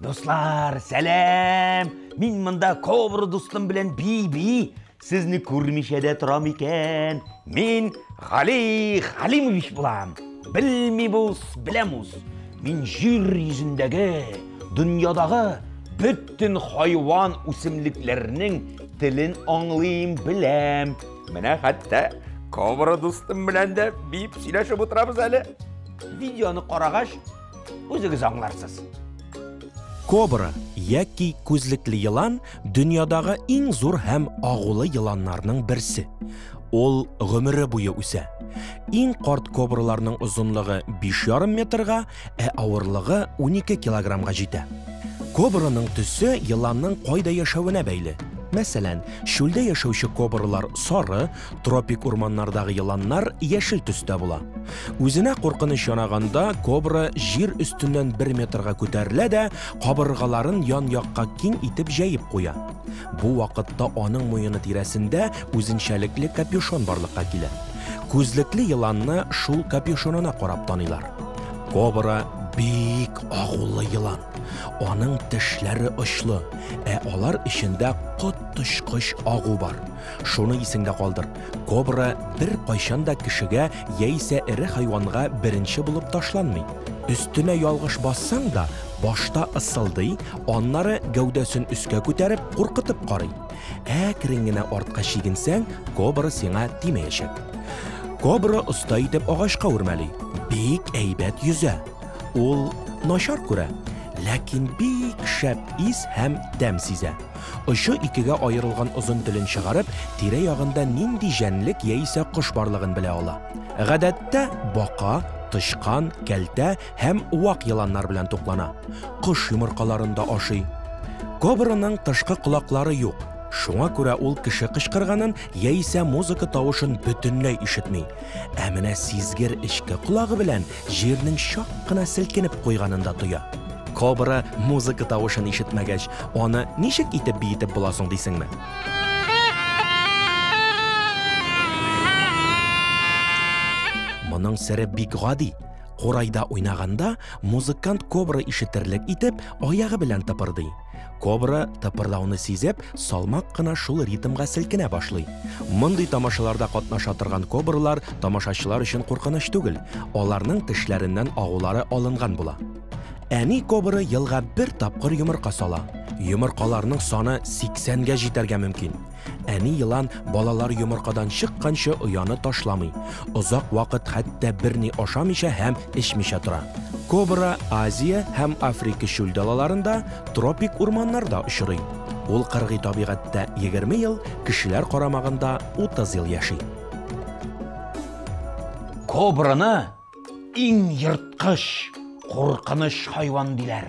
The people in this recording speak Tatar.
Дуслар, сәлам! Мин монда кобра дустым белән би-би. Сезне күрмичә дә торам икән. Мин Гали Халимович булам. Белми бус, беләмус. Мин җир йөзендәге, дөньядагы бөтен хайван үсемлекләрнең телен аңлыйм, беләм. Менә хәтта кобра дустым белән дә бип сөйләшеп утырабыз әле. Видеоны карагач, Үзегез аңларсыз. Кобра яки күзлекле елан дөньядагы иң зур һәм агулы еланнарның берсе. Ул гомере буе үсә. Иң карт кобраларның озынлыгы 5,5 метрга, ә авырлыгы 12 килограммга җитә. Кобраның төсе еланның кайда яшәвенә бәйле. Мәсәлән, чүлдә яшәүче кобралар сары, Тропик урманнардагы еланнар яшел төстә була. Үзенә куркыныч янаганда кобра җир өстеннән бер метрга күтәрелә дә, кабыргаларын ян-якка киң итеп җәеп куя. Бу вакытта аның муены тирәсендә үзенчәлекле капюшон барлыкка килә. Күзлекле еланны шул капюшонына карап таныйлар. Кобра бик агулы елан. Аның тешләре очлы, ә алар эчендә коточкыч агу бар. Шуны исеңдә калдыр, кобра беркайчан да кешегә яисә эре хайванга беренче булып ташланмый. Өстенә ялгыш бассаң да, башта ыссылдый, аннары гәүдәсен өскә күтәреп, куркытып карый. Әкрен генә артка чигенсәң, кобра сиңа тимәячәк. Кобра оста итеп агачка үрмәли, бик әйбәт йөзә. Ул начар күрә, ләкин бик шәп ис һәм тәм сизә. Очы икегә аерылган озын телен чыгарып, тирә-ягында нинди җәнлек яисә кош барлыгын белә ала. Гадәттә, бака, тычкан, кәлтә һәм вак еланнар белән туклана. Кош йомыркаларын да ашый. Кобраның тышкы колаклары юк, шуңа күрә ул кеше кычкырганын яисә музыка тавышын бөтенләй ишетми. Ә менә сизгер эчке колагы белән җирнең чак кына селкенеп куйганын да тоя. Кобра музыка тавышын ишетмәгәч, аны ничек итеп биетеп була соң дисеңме? Моның сере бик гади. Курайда уйнаганда, музыкант кобра ишетерлек итеп, аягы белән тыпырдый. Кобра, тыпырдауны сизеп, салмак кына шул ритмга селкенә башлый. Мондый тамашаларда катнаша торган кобралар тамашачылар өчен куркыныч түгел, аларның тешләреннән агулары алынган була. Әни кобра елга бер тапкыр йомырка сала. Йомыркаларның саны 80 гә җитәргә мөмкин. Әни елан балалар йомыркадан чыкканчы ояны ташламый. Озак вакыт хәтта берни ашамыйча һәм эчмичә тора. Кобра Азия һәм Африка чүл далаларында, тропик урманнарда очрый. Ул кыргый табигатьтә 20 ел, кешеләр карамагында 30 ел яши. Кобраны иң ерткыч, куркыныч хайван диләр,